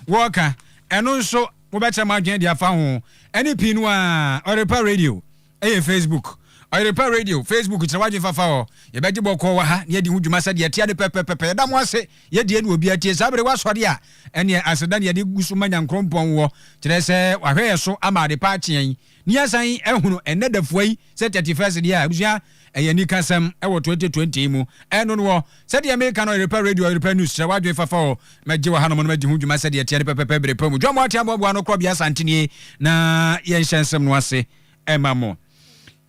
Wɔka, ɛno nso mobɛkyerɛ mo adwene de afa ho. Ɛne pii no ara, Ɔyerepa Radio yɛ Facebook. Ɔyerepa Radio Facebook kyerɛ w'adwene fa fa hɔ. Yɛbɛgye bɔkɔɔ wɔ ha na yɛadi ho dwuma sɛdeɛ ɛteɛ no pɛpɛpɛpɛ. Yɛda mo ase, yɛdie na obiara tie. Saa bere w'asɔre a, ɛneɛ aseda na yɛde gu so ma Nyankorɔmpɔn wɔ, kyerɛ sɛ wahwɛ yɛn so ama adepa akye yɛn. Ne yɛasan ahunu ɛnnɛ dafua yi sɛ thirty first deɛ a, abusua ɛyɛ anika sɛm ɛwɔ twenty twenty yi mu. Ɛno noɔ, sɛdeɛ meeka no Ɔyerepɛ Radio, Ɔyerepɛ News, kyerɛ w'adwene fafa o, mɛgye wɔ hanom na madi ho dwuma sɛdeɛ ɛteɛ ne pɛpɛpɛ bere pa mu. John Moatia Aboaboa no korɔbea Asante nie na yɛnhyɛ nsɛm no ase ɛma mo.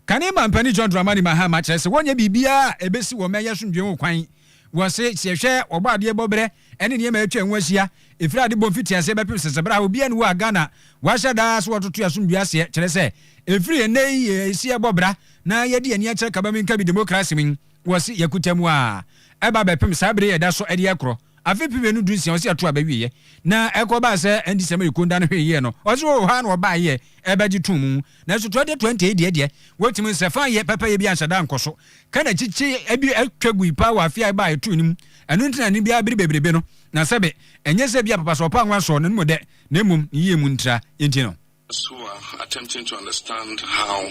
Kane Mampanin John Dramani Mahama kyerɛ sɛ wɔnyɛ biribiara a ɛbɛsi wɔn mma yɛ asomdwoeɛ ho kwan. Wɔse, sɛ yɛhwɛ Ɔbɔadeɛ bɔberɛ, ɛne nneɛma a atwa ho ahyia, ɛfiri ade bɔ mfitiaseɛ bɛpem sese berɛ a obiara nni hɔ a Ghana wɔahyɛ da ara sɛ wɔtoto asomdwoeɛ aseɛ, kyerɛ sɛ, ɛfiri ɛnnɛ yi yɛ ɛsi ɛbɔ bra na yɛde yɛn ani akyerɛ kaba menka bi demokrase mu yi, wɔse yɛkuta mu ara ɛba bɛpem saa berɛ yi a ɛda so de rekorɔ afe mpem mmienu du nsia wɔse ato aba awieɛ na ɛkɔbaa sɛ ɛndi sɛ Mayiko nda no hwee yie no ɔse oo ha na wɔbaeɛ ɛbɛgye too mu nanso 2020 yi deɛ deɛ wɔtumi nsɛ faa yɛ pɛpɛyɛ biara nhyɛ da nkɔ so. ka na kyikyi bi atwa gui paa wɔ afe a ɛbaa ɛtoo no mu, ɛno nti na ne biara bere bebrebe no, na sɛbe, ɛnyɛ sɛ ebia papa so ɔpaa nwa sɔɔ no no mu dɛ, na mmom ne yie mu ntra nti no. Suwa attempting to understand how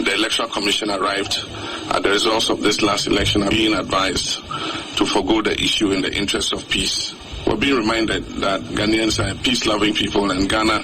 the Electoral Commission arrived at the results of this last election are being advised to forgo the issue in the interest of peace. We're being reminded that Ghanaians are a peace-loving people and Ghana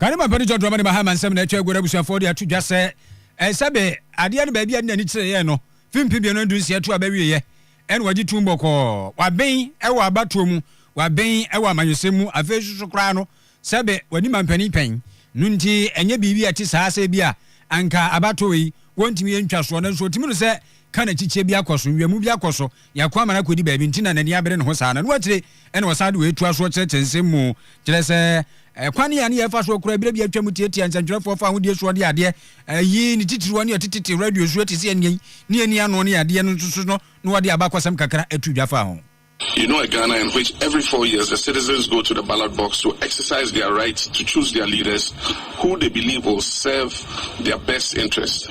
Ghana Mapɛ no John Dramani Mahama nsɛm na atwa agu na abusuafoɔ de ato dwa sɛ sɛbe adeɛ no baabi a ne n'ani kyereeɛ no fi mfe mmienu ne dunsia tu a bɛwieeɛ ɛna wagye tum bɔkɔɔ. Waben wɔ abatoɔ mu, waben wɔ amanyɔsɛm mu, afei nso so koraa no sɛbe wadi mampanin pɛn no nti ɛnyɛ biribi a ɛte saa sɛ ebi a anka abatoɔ wei wɔntumi yɛ ntwasoɔ nanso ɔtumi no sɛ ka na kyikyie bi akɔ so, nwiamu bi akɔ so. Yako ama no akɔdi baabi nti na n'ani abere ne ho saa no. Ɛno akyire na ɔsan de wei toa so kyerɛkyerɛ nsɛm mu, kyerɛ sɛ, Kwan a ne yɛfa so kora berɛ bi a atwam tiatia nsɛntwerɛfoɔ fa ahodie soɔ de adeɛ yi ne titiriwa ne atetete radio soɔ te sɛ ɛnneɛ yi ne ani ano ne adeɛ no nso so no na wɔde abakɔsɛm kakra to dwa fa ho. You know a Ghana in which every four years the citizens go to the ballot box to exercise their right to choose their leaders who they believe will serve their best interest?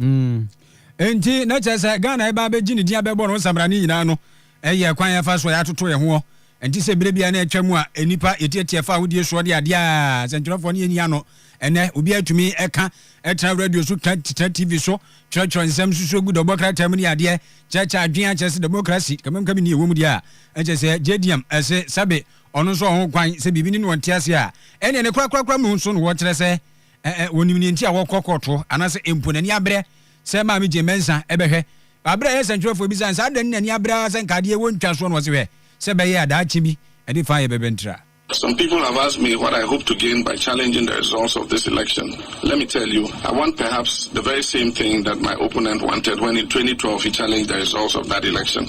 Mm. Enti, na kyerɛ sɛ Ghana a ɛbɛ abɛgye ne din abɛbɔ no nsabrane nyinaa no yɛ kwan a yɛfa so a yɛatoto yɛn ho. Ɛnte sɛ berɛ biara na ɛtwa mu a nnipa yɛtiatia fa ahodie soɔ de adeɛ a sɛntwerɛfoɔ no yɛnni ano. Ɛnnɛ, obiara tumi ka, tra radio so, tra tra TV so, twerɛtwerɛ nsɛm, susu gu dɔbɔ krataa mu ne adeɛ, kyerɛkyerɛ adwene akyerɛ sɛ demokrasi, kamam kami ni ɛwɔ mu deɛ a, ɛkyɛ sɛ JDM ɛse sɛbe ɔno nso ɔho kwan sɛ biribi ni na ɔnte ase a, ɛnneɛ ne korakorakora mu nso na wɔkyerɛ sɛ Ɛ ɛ wɔnim nea nti a wɔkɔ kɔɔto anaasɛ mpo n'ani abrɛ sɛ Maame Jane Mensah bɛhwɛ. Bere a ɛyɛ sɛnkyerɛwfo bisa no sɛ adɛn na n'ani abrɛ ara sɛ nka adeɛ wɔ ntwa soɔ no ɔse hwɛ sɛ bɛyɛ a daakye bi ɛde fã yɛ bɛbɛntra. Some people have asked me what I hope to gain by challenging the results of this election. Let me tell you, I want perhaps the very same thing that my opponent wanted when in twenty twelve he challenged the results of that election.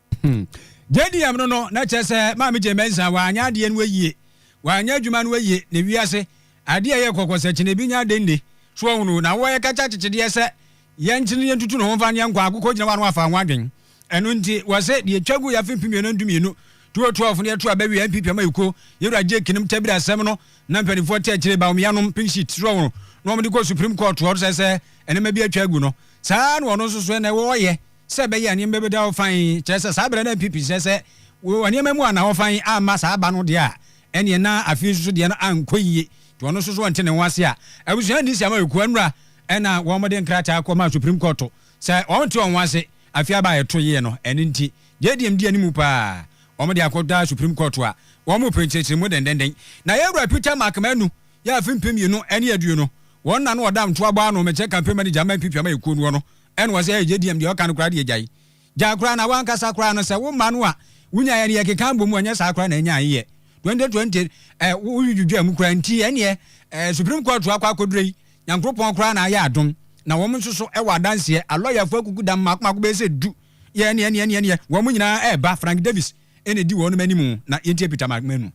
Hmm. JDM no no, na kyerɛ sɛ Maame Jane Mensah wanyɛ adeɛ no ayie, wanyɛ adwuma no ayie, na wiase adeɛ ɛyɛ kɔkɔ sɛ kyene bi nya adeɛ nne. So ɔhunu, na wɔyɛ kɛkyɛ akyekyedeɛ sɛ yɛnkyene yɛntutu ne ho mfa nyɛ nkwa akokɔ gyina hɔ ano afa ho adwen. Ɛno nti, wɔse deɛ ɛtwa gu yɛ afe mpem mmienu ndumienu, 2012 no yɛto aba wie a NPP ama yɛ kuo, yɛwura Jake nom tabiri asɛm no na mpanimfoɔ te akyire ba wɔn yanom pink sheet, so ɔhunu, na wɔde kɔ Supreme Court hɔ sɛ sɛ nneɛma bi atwa agu no. Saa na ɔno nso so ɛnɛ wɔyɛ. sɛ ɛbɛyɛ a nneɛma bɛda hɔ fann, kyerɛ sɛ saa berɛ no MP Pinsir sɛ wɔ nneɛma mu anna hɔ fann amma saa ba no deɛ a, ɛnneɛ na afei nso so deɛ no ankɔ yie, nti ɔno nso so ɔnte ne ho ase a abusua nni saa ma Ekuwa Nnura na wɔn de nkrataa kɔ maa Supreme Court sɛ wɔn nte wɔn ho ase afei aba a ɛto yie no, ɛno nti JDM di anim paa wɔn de akɔ da Supreme Court a wɔn repɛ nkyerɛkyerɛmu dendenden. Na yɛn wura Peter Mark Manu yɛ afe mpem mmienu ne aduonu wɔn na no ɔda ntoa bɔ ano mɛkyɛ campaign manager ama MP Piama Ekuo Nnuo no Ɛna ɔse ɛɛ gye diam deɛ ɔka no koraa deɛ gyae gyae koraa na wankasa koraa no sɛ wo mma no a wonyaeɛ no yɛkeka abom a ɛnyɛ saa koraa na ɛnyae yɛ 2020 ɛɛ wodwidwidwaa mu koraa nti ɛneɛ ɛɛ Supreme Court akɔ akɔdurɛ yi Nyankropɔn koraa na ayɛ adom na wɔn nso so ɛwɔ adanseɛ alɔyafoɔ akuku dam mako mako bɛyɛ sɛ du yɛ ɛneɛ ɛneɛ ɛneɛ wɔn nyinaa ɛɛba Frank Davis ɛna ɛdi wɔn anim na yɛntie Peter Magmanu.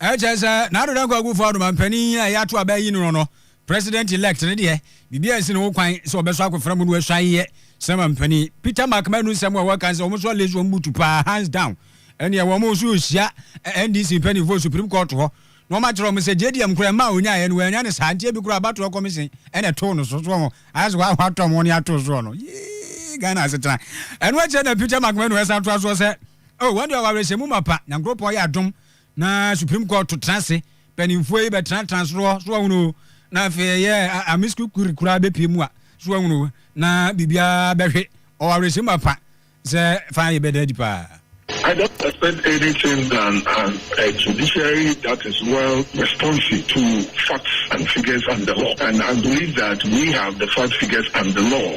Ɛkyerɛ sɛ na Ado Dankwa Akufo Addo ma mpanin yi a yɛato aba ayi no no, President Elect no deɛ, biribi ansi ne ho kwan sɛ ɔbɛsɔ akofena mu na wasuan yɛ sɛ ma mpanin. Peter Mark Manu nsɛm a wɔka sɛ wɔn so alace wɔn butu paa hands down ɛneɛ wɔn nso hyia NDC mpaninfoɔ Supreme Court hɔ na wɔn akyerɛ wɔn sɛ JDM koraa mmaa ɔnyaeɛ no wɔanya ne saa nti ebi koraa abatoɔ commission ɛna ɛtoo no so so wɔn ayɛ sɛ wɔatɔm wɔn ato soɔ no yee Ghana asetena ɛno akyerɛ na Peter Mark Manu ɛsan toa soɔ sɛ Oh wɔn deɛ ɔwaresɛmu mapa nyankropɔn yɛ adom na supreme court to tena ase panimfoɔ yi bɛtena tena soro hɔ so wɔhunu na afei ɛyɛ amis kukuri koraa bɛpie mu a so wɔhunu na biribiara bɛhwe ɔwaresɛmu mapa sɛ fa yɛ bɛda adi paa. I don't expect anything than an a judiciary that is well responsive to facts and figures and the law and I believe that we have the facts, figures and the law.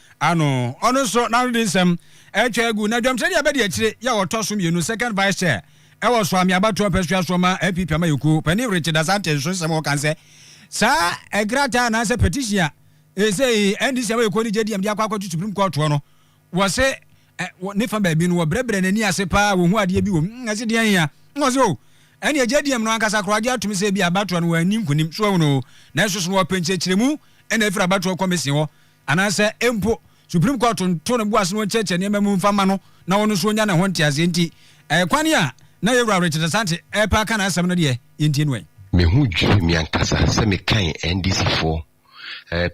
ano. Ɔno nso n'ano de nsɛm atwa agu. Na dwamkyerɛni abɛdi akyire yɛ a ɔtɔ so mmienu, second vice chair, ɛwɔ Suame abatoɔ mpasua so ma NPP amayɛkuo panin Richard Asante nso nsɛm a ɔka ne sɛ, saa ɛkrataa anaasɛ petition a ɛsei NDC amayɛkuo ne JDM de akɔ akɔto Supreme Court hɔ no, wɔse ɛ, wɔ ne fa baabi no wɔbrɛbrɛ n'ani ase paa, wɔhu adeɛ bi wɔ mu. Ɛse deɛ hia? Ɔse o, oh, ɛneɛ JDM no ankasa koraa gye atom sɛ bi abatoɔ no wɔanni nkonim, so ahunu o, nanso so no wɔpɛ nkyerɛkyerɛmu ɛna ɛfiri abatoɔ kɔmesen hɔ anaasɛ mpo Supreme Court nto ne bo ase na ɔnkyerɛkyerɛ nneɛma mu mfa mma no na ɔno nso ɔnya ne ho nteaseɛ nti, ɛɛ kwan a na yɛn Wura Richard Asante repɛ aka n'asɛm no deɛ, yɛntie no ɛ. Me ho dwiriw me ankasa sɛ mekan NDCfoɔ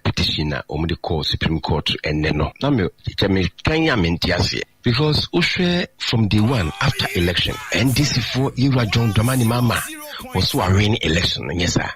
petition a wɔde kɔɔ Supreme Court ɛnnɛ no. Na me kyɛ me kan a mente aseɛ. Because wo hwɛ from day one after election, NDCfoɔ yɛwura John Dramani Mahama was so awin election no, nyɛ saa?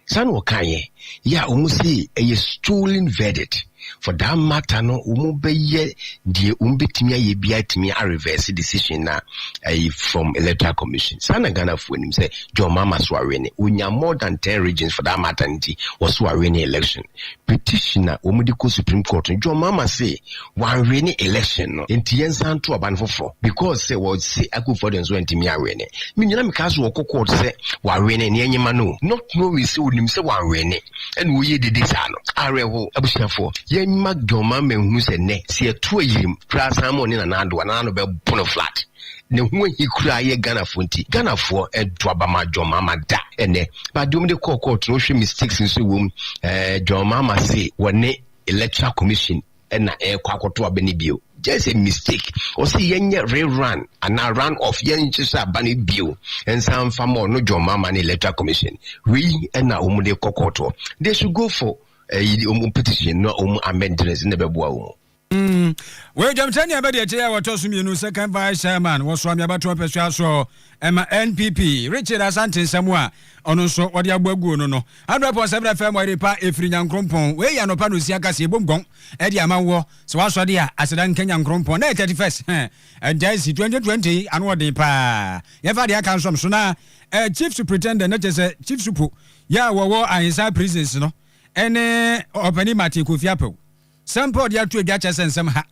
Saa na wɔkaeɛ yɛ a wɔn se ɛyɛ stolen verdict, for that matter no wɔn bɛyɛ deɛ wɔn bɛtumi ayɛ biara atumi a reverse decision no a ɛyɛ from electoral commission. Saa na Ghanafoɔ nim sɛ John Mahama so awene, ɔnya more than 10 regions for that matter nti ɔso awene election. Petition a wɔn de kɔ Supreme Court no John Mahama se Wɔanwene election no nti yɛnsan nto aba no foforɔ because sɛ wɔse Akuffo Addo nso antumi anwene. Me nyinaa mekaa sɛ wɔkɔ court sɛ wɔanwene na yɛnyema no o. Not knowing sɛ ɔnim sɛ wɔanwene ɛna ɔyɛ dede saa no. Awerɛhow abusuafoɔ. Yɛnyema John Mahama nhunu sɛ nnɛ sɛ yɛto ayirem koraa san ma ɔne Nana Addo a Nana Addo bɛpono flat. Ne ho ahi koraa yɛ Ghanafoɔ nti. Ghanafoɔ nto aba ma John Mahama da ɛnɛ. But deɛ wɔde kɔɔ court no wohwɛ mistakes nso ɛwɔ mu. Ɛɛ John Mahama se wɔne Electoral Commission ɛna ɛkɔ akɔto aba no bio just a mistake ɔsi yɛn nyɛ rerun anaa run off yɛn nhyehyɛ aba no bio nsan fa ma ɔno John Mama ne electoral commission wei ɛna wɔn de kɔ kɔɔtoɔ they should go for ɛyi eh, wɔn petition na wɔn amendments na ɛbɛboa wɔn. Mm. Wei dwamtɛ nea bɛde ɛkyɛ yɛ wɔtɔ so mmienu second vice chairman wɔsoa meabatoɔ mpɛsoa soɔ ɛma NPP Richard Asante nsɛm a ɔno nso wɔde abɔ aguo no no Adɔɛ pɔn sɛ berɛ fɛ mɔ ɛde pa ɛfiri Nyankrompɔn. Wei yɛ anɔpa na osia kaseɛ bom gɔn ɛde ama woɔ. Sɛ woasɔde a, aseda nka Nyankrompɔn. Nnɛ yɛ 31st hɛn Ɛntaasi 2020 yi ano ɔden paa. Yɛmfa adeɛ aka nsɔm so na eh, Chief Supritendent na kyɛ sɛ Chief Supo yɛ a wɔwɔ Ahensaa Prisons no ɛne Ɔpani Martin Kofi Apawu. Sɛ mpɛ wɔde ato adwa kyerɛ sɛ nsɛm ha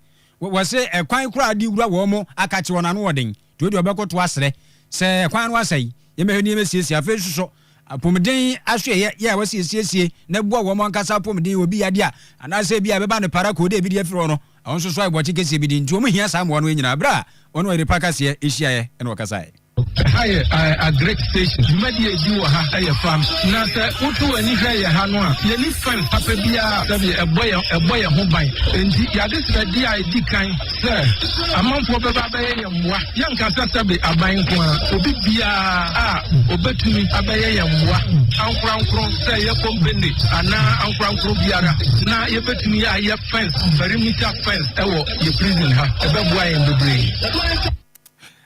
wɔse ɛkwan koraa de wura wɔn akakye wɔn ano wɔ den nti wɔde wɔbɛkoto asrɛ sɛ ɛkwan no asɛe yɛmɛhwɛ ne yɛmɛ siesie afei nso so apomden aso ɛyɛ yɛ a wɔse yɛsiesie na ɛboa wɔn ankasa apomden wɔ bi yade a anaasɛ bi a ɛbɛba ne para kɔɔ dɛ bi de afiri hɔ no wɔn nso so ayɛ bɔkye kɛseɛ bi de nti wɔn hia saa mmoa no nyinaa berɛ a wɔne ɔyere pa kaseɛ hyiaeɛ ɛna wɔkasaeɛ Ɛha yɛ agric station. Dwumadi a edi wɔ ha yɛ farm. Na sɛ woto w'ani hwɛ yɛ ha no a, yɛnni fɛn papa biara sɛdeɛ ɛbɔ yɛn ɛbɔ yɛn ho ban. Enti yɛade srɛdeɛ a edi kan sɛ amanfoɔ bɛba abɛyɛ yɛn mmoa. Yɛnka sɛ sɛbe aban nko ara, obi biara a obetumi abɛyɛ yɛn mmoa ankorankoro sɛ ɛyɛ kompene anaa ankorankoro biara na yɛbetumi ayɛ fɛns, perimeter fɛns, wɔ yɛ prison ha. Ɛbɛboa yɛn bebree.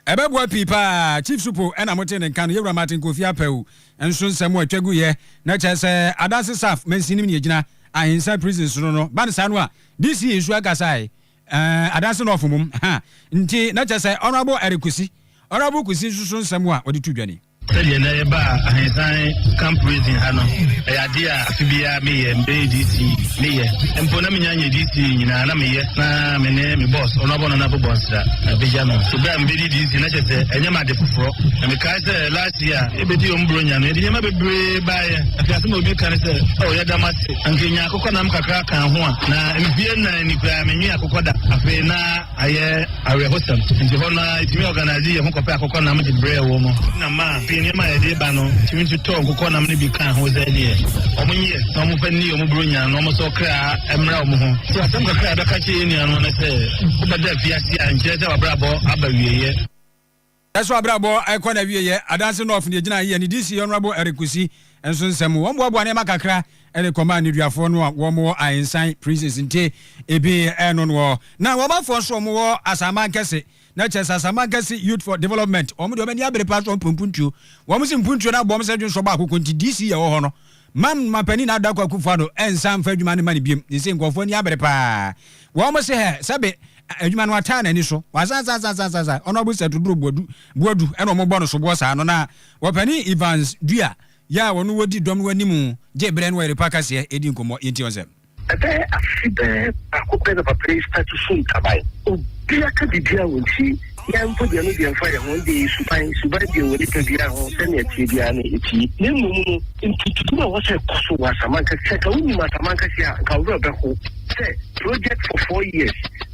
Ɛbɛboa pii paa. Chief Supo na mo tee ne nka no, Yɛwura Martin Kofi Apawu nso nsɛm a ɛtwa guiɛ no kyerɛ sɛ Adanse Saf Mansin nim nea ɛgyina Ahinsan Prison sono no ba no saa no a DC nso ankasaɛ eh, Adanse North mom ha nti na kyerɛ sɛ Honourable Eric Kusi, Honourable Kusi nso so nsɛm a ɔde to dwa ni. Sɛdeɛ na yɛbaa Ahensan Camp Raisin ha no, ɛyɛ adeɛ a afe biara meyɛ. Mebɛyɛ DC, meyɛ. Mpo na menya nyɛ DC nyinaa, na meyɛ na me ne me boss, Honourable Nana Bobor Nsira, bɛgya no. So berɛ a mebɛdi DC no, na kyerɛ sɛ ɛnyɛ me ade foforɔ. Na mekae sɛ last year a yɛbɛdi wɔn Buronya no, yɛde nneɛma bebree baeɛ. Afei asɛm a obi ka ne sɛ, Oh, yɛda mo ase. Anka yɛnya akokɔnam kakra ka ho a, na mfeɛ nnan ni koraa, menwee akokɔ da. Afei na. Ayɛ awerɛhosɛm nti hɔ no ara yɛtumi ɔganase yɛn ho kɔpɛ akokɔnam de brɛɛ wɔn. Ɛna maa pii nneɛma a yɛde ba no tumi nso tɔɔ nkokɔnam no bi kaa ho sɛ ɛdeɛ wɔnyɛ na wɔmfa nni wɔn Buronya na wɔnsɔ ɔkra mmra wɔn ho. So asɛm kakra a yɛbɛka akyerɛ yɛn nua no ne sɛ wobɛda afiase a nkyerɛ sɛ w'abrabɔ aba awieeɛ. Yɛ so abrabɔ rekɔ n'awieɛ. Adanse North deɛ gyina yɛ ne DC Honourable Eric Kusi nso nsɛm mu. Wɔn boaboa nneɛma kakra de kɔmaa nneduafoɔ no a wɔn wɔ Ahensan, Princes Nte, ebi ɛno noɔ. Na wɔn afoɔ nso wɔn wɔ Asaman Kɛse. Na kyerɛ sɛ Asaman Kɛse Youth for Development wɔn deɛ wɔn ani abere paa so wɔn pɛ mpuntuo. Wɔn se mpuntuo no abɔ wɔn sɛ dwonsɔ baako kɔ nti DC a ɛwɔ hɔ no Mam ma panin Addo Ako Akufo Addo nsan mfa adwuma no mma no biom, ne se nkurɔfoɔ ani abere paa. Wɔn se hɛ, sɛbe adwuma no ataa n'ani so. Wasasasasasasasae. Ɔno abo sɛ Toduro Boadu, Boadu na wɔbɔ no soboɔ saa no, na ɔpanin Evans Duah, yɛ a ɔno ɔdi dɔm no anim gye berɛ no ɔyere pa kaseɛ di nkɔmmɔ. Yɛntie wɔn nsɛm. Ɛbɛyɛ afe bɛɛ baako pɛ na papa yi starte su ntaban. Obia ka bibia wɔ nti yɛn mpo deɛ no deɛ mfa yɛn ho ɛnde suban suban deɛ wɔ nipa biaa ho sɛnea ɛteɛ biaa no ɛtie na mmom no nkututu na ɛwɔ sɛ ɛkɔ so wɔ Asamanka sɛ nka wonim Asamanka deɛ a nka wo werɛ bɛho sɛ project for four years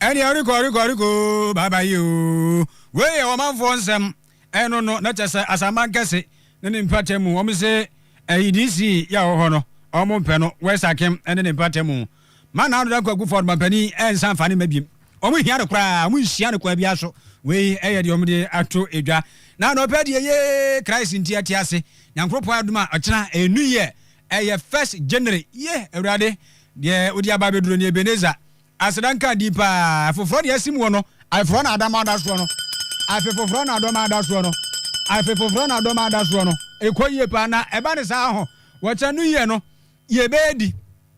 Ɛne ɔrekɔ rekɔ rekɔ oo bye bye yi oo. Wei yɛ ɔmanfoɔ nsɛm ɛno no na kyɛsɛ asanman kɛse ne ne mpata mu wɔn se ɛyi DC yi a ɔwɔ hɔ no wɔn mpɛ no West Akem ne ne mpata mu ma Nado Dankwa Kufuor mampanin ɛnsa mfa ne mma biem wɔn nhia no koraa wɔn nhyia no kwan biara so wei ɛyɛ deɛ wɔn de ato edwa na na ɔpɛ deɛ yee Christ nti ɛte ase Nyankoropɔn adum a ɔkyena ɛyɛ New Year ɛyɛ first January yee Awurade deɛ wodi aba abɛduro ni Ebenezer Aseda nka din paa. Foforɔ deɛ asim wɔ no. Afe foforɔ na adama ada soɔ no. Afe foforɔ na adɔma ada soɔ no. Afe foforɔ na adɔma ada soɔ no. Ɛkɔ yie paa na ɛba ne saa ho. Wɔkyɛ no yie no yɛbɛyɛ di.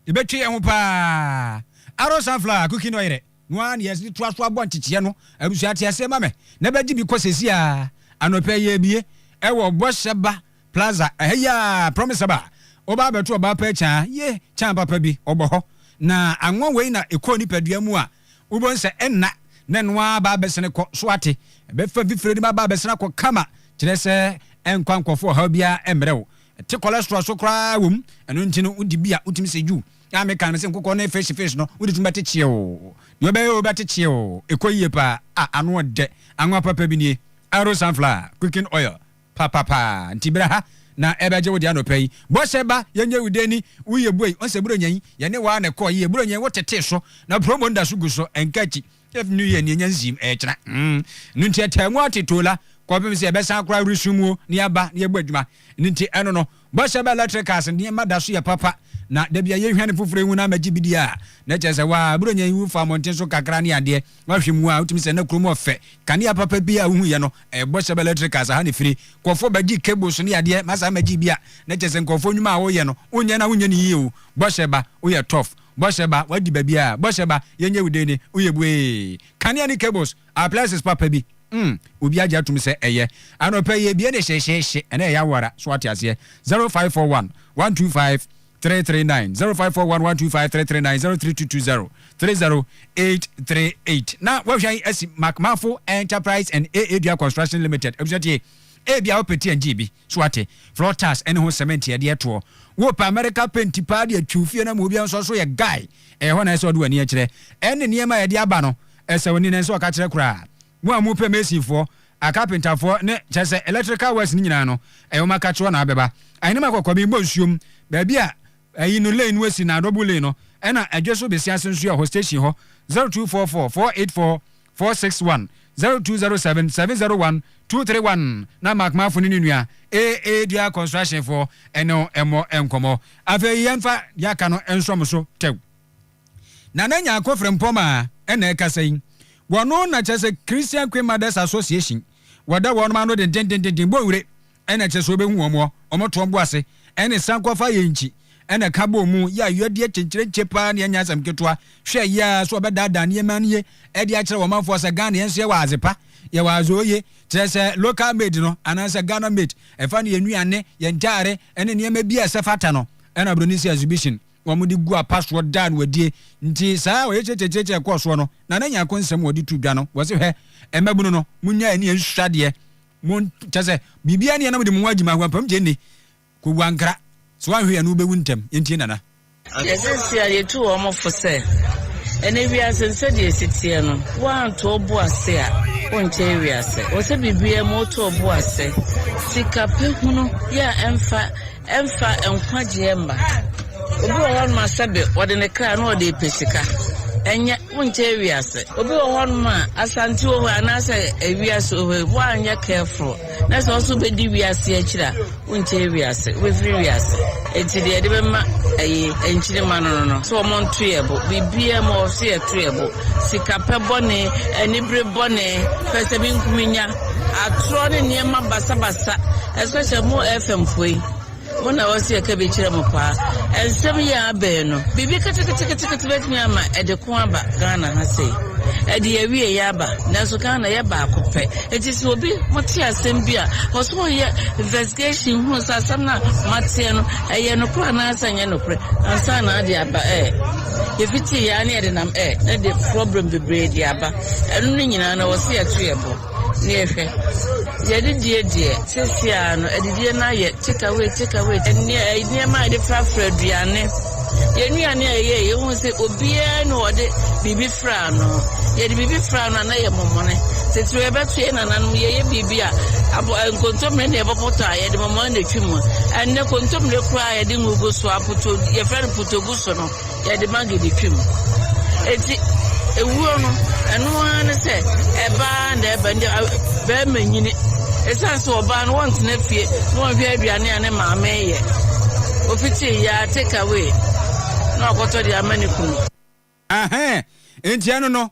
Yɛbɛtwe yɛn ho paa. Arrow sunflower cooking oil dɛ. No ara na yɛde toa so abɔ nkyekyeɛ no. Abusua te aseɛ ma me. Na bɛgye bi kɔ seesei ara. Anɔpa yi yɛrebue wɔ bɔhyɛ ba. Plaza ɛhɛ yi aa promise aba wo ba abɛto ɔbaa pɛ kyaa ye kyaa papa bi ɔbɔ hɔ na anwa wei na ekɔ nipadua mu a wobɔ nsɛ ɛnna na ɛno aa ba abɛsene kɔ so ate ɛbɛfa fifire de ma ba abɛsene akɔ kama kyerɛ sɛ ɛnkwa nkɔfo ɔhaw biaa ɛmmerɛ wo ɛte cholesterol so koraa wom ɛno nti no wodi bi a wotumi sɛ yuu a meka no sɛ nkokɔ ne fish fish no wode tumi bɛte kyeɛw deɛ ɔbɛyɛ o bɛte kyeɛw ɛkɔ yie paa a ano ɔdɛ anwa papa bi nie arrow sunflower cooking oil Papapa nti bra ha na ɛbɛgye wo deɛ anɔpa yi. Bɔhyɛ ba yɛnyɛ wo dɛn ni wo yɛ buei ɔnsɛ buronya yi yɛne wo ara na ɛkɔɔ yie buronya yi wo tetee so na promo nda so gu so ɛnka akyi ɛf new year ni ɛnya nsiim ɛkyena mm no nti ɛtaa mu ate tola kɔpem sɛ ɛbɛsan koraa resumu o ne aba ne ɛbɔ adwuma no nti ɛno no Bɔhyɛ bɛ electric cars nneɛma da so yɛ papa na da bi a yɛhwa ne foforɔ hu no ama gye bi di a, na kyerɛ sɛ waa, Buronya yi wofa mmɔnten so kakra ne adeɛ, woahwɛ mu a wotumi sɛ na kurom ɔfɛ, kanea papa biara a wohu yɛ no ɛyɛ Bɔhyɛ bɛ electric cars ha na ɛfire, nkurɔfoɔ ba gye cables ne adeɛ ma saa ma gye bi a, na kyerɛ sɛ nkurɔfoɔ nnwuma a woyɛ no wonyɛ no a wonyɛ no yie o, Bɔhyɛ ba woyɛ tough, Bɔhyɛ ba wadi baabiara, Bɔhyɛ ba yɛnyɛ wo dee ne woyɛ buee, kanea ne cables. Ah places papa bi mm obi agye atum sɛ ɛyɛ anɔpa yi ebie ne hyehyeehye ɛnɛ ɛyɛ awara so ate aseɛ zero five four one one two five three three nine zero five four one one two five three three nine zero three two two zero three zero eight three eight na wahwɛ yi asi macmafo enterprise and aa dua construction limited abusua tie ebi a wopɛ ti ɛngye bi. So woate? Floor tiles ɛne ho cement yɛde yɛ toɔ. Wo pɛ America paint paa de atwiw fie no ama obiara nso ɔso yɛ guy. Ɛyɛ hɔ na ɛsɛ sɛ ɔde w'ani kyerɛ. Ɛne nneɛma a yɛde aba no ɛsɛ w'ani na ɛnsɛ sɛ ɔka kyerɛ koraa. Mo a mo pɛ mason foɔ, acarpenterfoɔ ne kyerɛ sɛ electrical works no nyinaa no ɛyɛ wɔn aka kyerɛ na abɛba. Ahenemma kɔkɔɔ me mmɔ nsuom baabi a ɛyi no lane no asi na double lane no ɛna ɛdwe so besi ase nso yɛ hɔ station hɔ 0244 484 four six one zero two zero seven seven zero one two three one na Mark Mafo ne ne nua AA Dua Construction foɔ ɛne wo ɛmmɔ nkɔmmɔ. Afei yɛmfa deɛ aka no nsɔ mo so tɛw. Nana Nyarko Frimpong a ɛna ɛkasa yi, wɔno na kyerɛ sɛ Christian Queen Mothers Association, wɔda wɔnom ano dendendenden bɔ wire ɛna ɛkyerɛ sɛ wɔbɛhu wɔn wɔ wɔn toɔm bo ase, ɛne sankɔfa yɛ nkyi, ɛna ka bɔɔ mu yɛ ayɔdeɛ kyenkyerenkye paa ne ɛnyɛ asɛm ketewa, hwɛ yɛ ara sɛ wɔbɛdaadaa nneɛma no yie de akyerɛ wɔn manfoɔ sɛ Ghana yɛn nso yɛwɔ adze pa, yɛwɔ adze oye, kyerɛ sɛ local made no anaasɛ Ghana made, ɛfa no yɛn nnuane, yɛn ntaare, ɛne nneɛma bi a ɛsɛ fata no, ɛna broni nso yɛ exhibition wɔde gu apa soɔ daa no adie, nti saa ɔyɛkyerɛkyerɛkyerɛkyerɛ a ɛkɔɔ soɔ no, Nana Nyarko nsɛm a wɔde too dwa no, wɔse hwɛ, mmabunu no, monnyae ne yɛn nsusuadeɛ, Mo kyɛ sɛ biribiara nni ha na mode mo ho agye mu ahoa mpam gye nni. Kɔwu ankra. Sɛ woanhwɛ yɛ no wobɛwu ntɛm. Yɛntie Nana. Ɔka sɛ, Seesei a yɛatu wɔn fo sɛ ɛnnɛ wiase no sɛdeɛ ɛsi teɛ no, woanto wo bo ase a, wonkyɛe wiase. Ɛwɔ sɛ biribiara mu woto wo bo ase. Sikapɛ hunu yɛ a ɛmfa Ɛmfa nkwagyeɛ mma. Obi wɔ hɔnom a sɛbe ɔde ne kra na ɔde repɛ sika. Ɛnyɛ, wonkyɛ ewiase. Obi wɔ hɔnom a Asante wɔ hɔ yi anaasɛ ewiase wɔ hɔ yi, woanyɛ careful na sɛ wo nso wobɛdi wiase akyiri a, wonkyɛ ewiase, wobɛfiri wiase. Enti deɛ yɛde bɛma ayi nkyirima no no no, sɛ wɔn nto yɛn bo. Biribiara mu hɔ, wɔse yɛto yɛn bo. Sikapɛ bɔne, anibere bɔne, pɛsɛmenkominya. Atorɔ ne nneɛma basabasa ɛsɛ sɛ mo FM foɔ yi mo na ɛwɔ sɛ yɛka bi kyerɛ mo paa. Ɛnsɛm yi a abɛn no biribi keteketekete bɛtumi ama ɛde ko aba Ghana ha sei. Ɛde yɛwie yɛ aba nanso Ghana yɛ baako pɛ. Enti sɛ obi mo te asɛm bi a wɔ so ɔyɛ investigation hunu sɛ asɛm no a moateɛ no ɛyɛ nokorɛ anaasɛ ɛnyɛ nokorɛ ansa na ade aba ɛɛ. Yɛfiti yɛ a ne yɛde nam ɛɛ ne de problem bebree de aba. Ɛno no nyinaa no wɔ se yɛto yɛn bo na yɛhwɛ. Yɛde die deɛ, sɛsi ara no adidie no ayɛ take away take away. Ɛneɛ ɛyi nneɛma a yɛde frafra aduane, yɛn nnuane a yɛyɛ yɛn hu sɛ obiara na ɔde biribi fra ano. Yɛde biribi fra ano a na yɛ mɔmɔne. Titiriw yɛbɛto yɛn nananom yɛyɛ biribi a abo nkontommire na yɛbɛpɔtɔ a yɛde mɔmɔne na etwi mu. Ɛnɛ kontommire koraa a yɛde ngo gu so a poto yɛfrɛ no potogu so no. Yɛde Maggie de twam. Enti ewuo no, ɛno ara ne sɛ ɛba ara na ɛba. Nti barima nyini. Ɛsiane sɛ ɔbaa no wɔntena fie na ɔnhwɛ aduane a ne maame yɛ. Ofiti yɛ a take away na ɔkɔtɔ de ama ne kunu. Ahaa, enti ɛno no.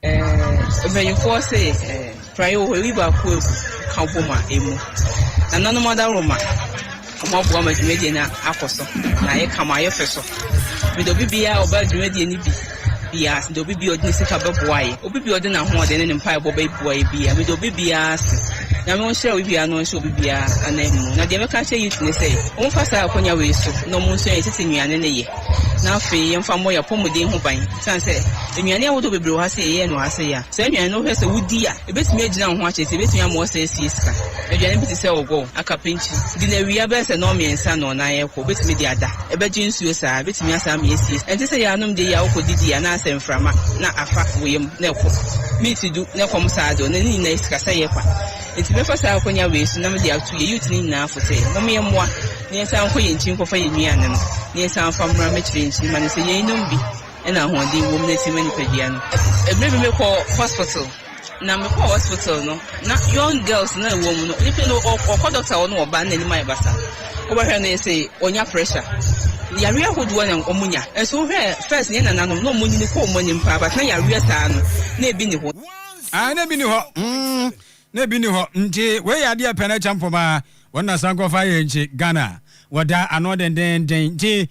Mpanimfoɔ se prayɛ wɔ hɔ, ɛyi baako agu ka bom a ɛmu. Nananom adaworoma, wɔaboa ma dwumadie no akɔ so na ayɛ kama, ayɛ fɛ so. Mede obi biara a ɔbaa dwumadie no bi biara ase, mede obi biara a ɔde ne sika bɛboa yɛ, obi biara a ɔde n'ahoɔden ne ne mpaebɔ bɛboa yɛ biara, mede obi biara ase. Nyame ɔnhyira obi biara na ɔnhyɛ obi biara ananmu. Na deɛ mɛka akyerɛ youth ne sɛ, wɔmfa saa akwannya wei so na wɔnsua yɛn tete nnuane no yɛ. na afei yɛmfa mmɔ yɛn apɔmuden ho ban, esiane sɛ nnuane ahodoɔ bebree wɔ ha sɛ yɛyɛ no ase a, saa nnuane no wohwɛ sɛ wodi a, ɛbɛtumi agyina wo ho akyɛre sɛ ɛbɛtumi ama woasan asie sika. Aduane bi te sɛ ɔgɔɔ, akapenkye, di no awia bɛyɛ sɛ nnɔn mmiɛnsa no na ayɛ kɔ, wobɛtumi de ada, ɛbɛgye nsuo saa, ɛbɛtumi asan ama yɛasie sika. Ɛnte sɛ yɛanom deɛ yei a wokɔdidi a na ayɛ sɛ mframa na afa wo yam na ɛkɔ. Meat du na ɛkɔm saa deɛ ɔno ne nyinaa yɛ sikasɛeɛ kwa. Enti mɛfa saa akwannya wei so na mede ato yɛn youth no nyinaa fo sɛ mommyɛ mmoa. Yɛnsan nkɔ yɛn nkyi nkɔfa yɛn nnuane no, na yɛnsan mfa mmra mmɛkyerɛ yɛn nkyi mma no sɛ yɛnnom bi na ahoɔden wom na ɛtumi ma nipadua no. Bere bi mekɔɔ hospital, na mekɔɔ hospital no, na young girls no a ɛwɔ mu no, nipa no ɔkɔ doctor hɔ no ɔba no n'anim ayɛ basa. Wobɛhwɛ no yɛse ɔnya pressure. Yareɛ ahodoɔ na wɔnya. Nso wohwɛ first yɛn nananom na wɔnyini kɔ wɔn anim paa but na yareɛ saa no na ebi nni hɔ. Aane ebi nni hɔ. na ebi nni hɔ nti wei yɛ adeɛ pɛ na ɛkyɛ mpɔmaa wɔn na san kɔfa yɛ nkye Ghana wɔda ano dendenden nti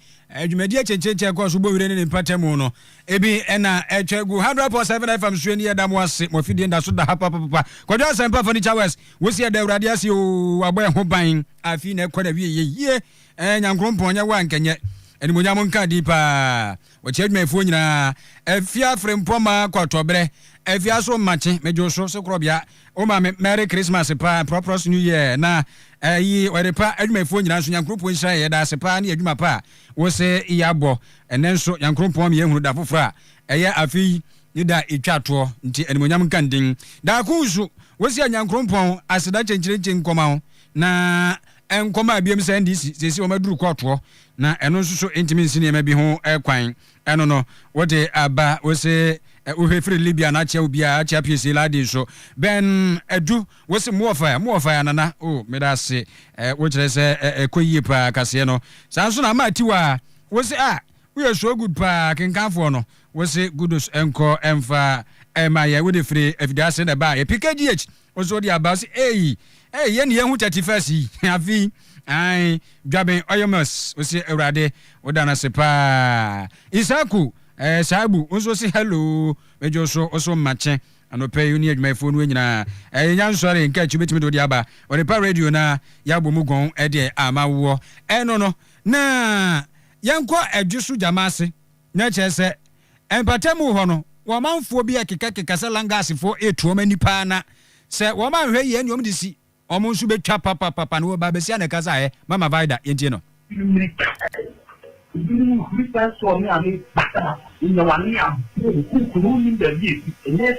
dwumadie akyekyerekyɛ ɛkɔɔ so bɔ wire ne ne mpatamu no ebi ɛna ɛtwa gu hundred point seven fm suo ni yɛda mo ase mo afidie nda so da ha papapapa kwadwo asɛmpa furniture west wosi ɛda awurade ase o wabɔ ɛho ban afei na ɛkɔ na wie yɛ yie ɛɛ nyankoropɔn nyɛ wo ankɛnyɛ animonyam nka di paa Wɔkyerɛ adwumayɛfoɔ nyinaa afie afrempɔma kɔtɔberɛ afie aso mmakye medwo so se korɔbea wo ma me merry Christmas paa and proprous new year na ayi ɔyere pa adwumayɛfoɔ nyinaa nso Nyankoropɔn nhyira yɛ yɛda ase paa ne adwuma pa a wo se yɛabɔ ɛnɛ nso Nyankoropɔn me yɛhunu da foforɔ a ɛyɛ afe yi ne da ɛtwa toɔ nti animonyam nka ndin daa ko nso wo se Nyankoropɔn aseda kyenkyerenkye nkɔma wo na nkɔma biom sɛ NDC sese wɔn aduru kɔɔtoɔ Na ɛno nso so ntumi nsi nneɛma bi ho kwan. Ɛno no, wode aba, wose wohwɛ firi Libya na akyea obi a, akyea piesie laadi nso. Bɛn adu, wose mo wɔ fae, mo wɔ fae anana, oh, meda ase, wokyerɛ sɛ ɛkɔ yie paa, kaseɛ no. Saa nso na ama atiwa, wose ah, woyɛ so good paa, kenkanfoɔ no, wose kudos nkɔ mfa ma yɛn, wode firi afidie ase na ɛba, yɛ pkgh. Ɔsɛ ɔde aba sɛ eii ee yɛn ne yɛhu thirty first yi afi ae dwaben ɔyɛ mas ɔsɛ awurade woda no ase paa isaku ɛɛ saabu nso ɔsɛ hello medwo so ɔsɛ mmakye anɔpɛ yi ɔne adwumayɛfoɔ no nyinaa ɛɛ yɛnya nsɔre nka akyi bɛtumi de ɔde aba ɔde pa radio no a yɛabɔ mu gɔn ɛdeɛ ama woɔ ɛno no na yɛnkɔ adwo so gyama ase Na kyerɛ sɛ, mpatamu hɔ no, wɔ ɔmanfoɔ bi ɛkekakeka sɛ Langasfoɔ retu wɔn ani paa na sɛ wɔn anhwɛ yie ne wɔn de si wɔn nso bɛtwa papapapa na wɔba abɛsi anɛ kasa ɛ Mama Vida yɛntie no. Mmirika pɛ, ebinom huri sane soɔ ne ame bata, nyɛ w'ane aboɔ, nkunkunu wonnim baabi a ɛsi, ɛnyɛ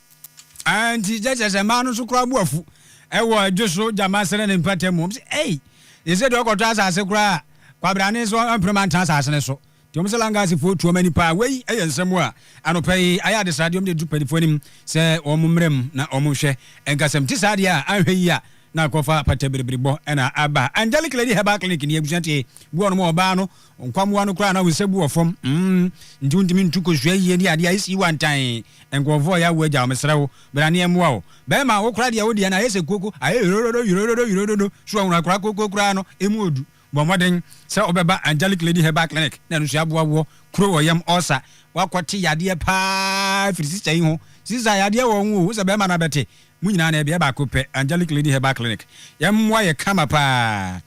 Nti kyɛ kyerɛ sɛ mmaa no nso koraa bo afu wɔ adwo so gyama srɛ ne mpata mu. Wɔn sɛ, ei, ɛsɛ deɛ ɔkɔtɔ asase koraa a, kwabrane nso ɔmpere ma ntena asase no so. Nti wɔn sɛ Langasfoɔ tu wɔn ani paa. Wei yɛ nsɛm a anɔpa yi ayɛ adesrade wɔn de to mpanimfoɔ anim sɛ wɔn mmra mu na wɔn nhwɛ. Nka sɛ mete saa deɛ a, anhwɛ yie a na akɔfa pata biribiribɔ na aba. Angelic Lady Herbal Clinic nie, abusua tie, boa wɔn ɔbaa no. Nkwammoa no koraa na wo nsa gu wɔ fam mm nti wontumi ntu kosua yie ne adeɛ a ɛsii wantan nkurɔfoɔ a yɛawu agya wo mesrɛ wo bra ne yɛmmoa wo bɛrima wo koraa deɛ wo deɛ no ayɛ sɛ koko ayɛ yorododo yorododo yorododo sure wohunu akora koko koraa no ɛmu ɔdu bɔ mmɔden sɛ wobɛba angelic lady herbal clinic na ɛno nso yɛaboa woɔ kuro wɔ yam ɔsa wakɔ te yadeɛ paa firi sista yi ho sista yadeɛ wɔ ho o wo sɛ bɛrima no abɛte mo nyinaa na ɛdeɛ baako pɛ angelic lady herbal clinic yɛmmoa yɛ kama paa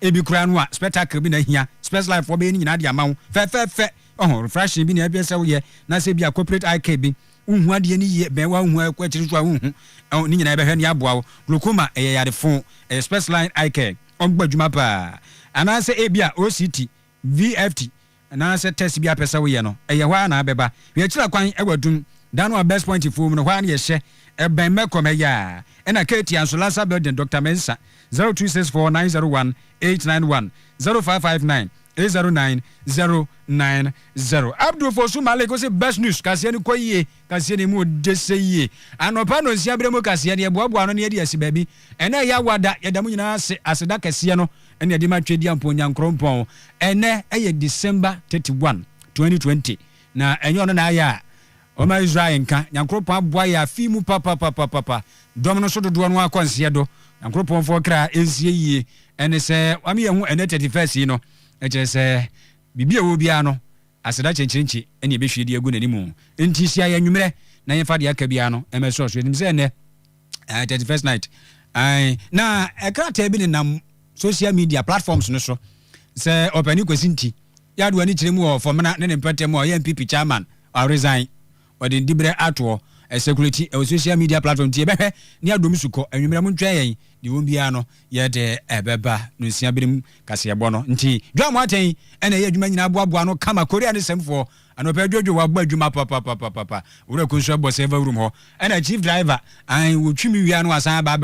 Ebi koraa no a spectacle bi na ehia. Spes Life foɔ bɛyɛ ne nyinaa de ama wo fɛfɛɛfɛ. Ɔho, refreshing bi na ɛpɛ sɛ woyɛ. Na sɛ ebia corporate eye care bi, wonhu adeɛ no yie, bɛn wo a wonhu a ɛkɔ akyiri nso a wonhu. Ɔho, ne nyinaa yɛbɛhwɛ na yɛaboa wo. Glaucoma, ɛyɛ yare foo. Ɛyɛ Spes Line Eye Care. Wɔbɔ adwuma paa. Anaasɛ ebia OCT, VFT, anaasɛ test bi a wopɛ sɛ woyɛ no, ɛyɛ hɔ ara na abɛba. Yɛkyerɛ kwan wɔ adum da no a Best Point foɔ mu no, hɔ ara na yɛhyɛ, ɛbɛn Mɛkɔm ɛyɛ a. Ɛna Katie Anso Lasa Building, Doctor Mensah, 0264 901 891, 0559 809 090. Abdul Fosu Malik ɔse Best News, kaseɛ no kɔ yie, kaseɛ no ɛmu ɔdɛ sɛ yie. Anɔpa nnɔnsia berɛ mu kaseɛ no, yɛboaboa ano na yɛde asi baabi. Ɛna ɛyɛ awada, yɛda mo nyinaa ase, aseda kɛseɛ no ɛna ɛde ma Twedeɛ Mponyankrɔnpɔn. Ɛnnɛ yɛ December thirty one, twenty twenty, na ɛnyɛ ɔno na ayɛ a ɔma Israel nka. Nyankroɔpɔn aboa yɛ afe yi mu papapapapapa. Dɔm no so dodoɔ no ara kɔ nseɛ do. Nyankroɔpɔn foɔ kra nsie yie. Ɛne sɛ wame yɛn ho ɛnnɛ thirty first yi no, ɛkyerɛ sɛ biribi a ɛwɔ biara no aseda kyenkyerenkye ɛna yɛbɛhwie de agu n'animu. Nti hyia yɛn anwumerɛ na yɛnfa deɛ aka biara no ɛmɛsɔ so. Yɛnim sɛ ɛnnɛ. ɛɛ thirty first night ɛɛ na ɛkrataa bi nenam social media platforms no so sɛ ɔpɛni kwasi nti yadu ani kyerɛ mu wɔ fɔmena ne ne mpɛtɛ mu a ɔyɛ npp chairman ɔresign ɔde ne dibrɛ atoɔ ɛsɛkuleti ɛwɔ social media platform nti ɛbɛhwɛ ne adom su kɔ anwummerɛ mo ntwɛn yɛn deɛ wɔn biara no yɛde ɛbɛba no nsia binom kaseɛbɔ no nti dwa mo atɛn ɛna ɛyɛ adwuma nyinaa boaboa no kama korea ne sɛmfoɔ Anɔpɛ dwodwo wabɔ adwuma papapapapa wura ko nso ɛbɔ server room hɔ ɛna chief driver an wotwi me wia no asan aba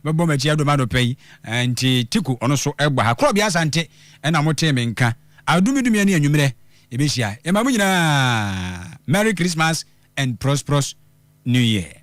bɛbɔ m'akyi adom anɔpɛ yi nti tiko ɔno so ɛbɔ ha korɔ bia asante ɛna mo tee me nka adumi dumi ɛne anwummerɛ yɛbɛhyia yɛma mo nyinaa merry christmas and prosperous new year.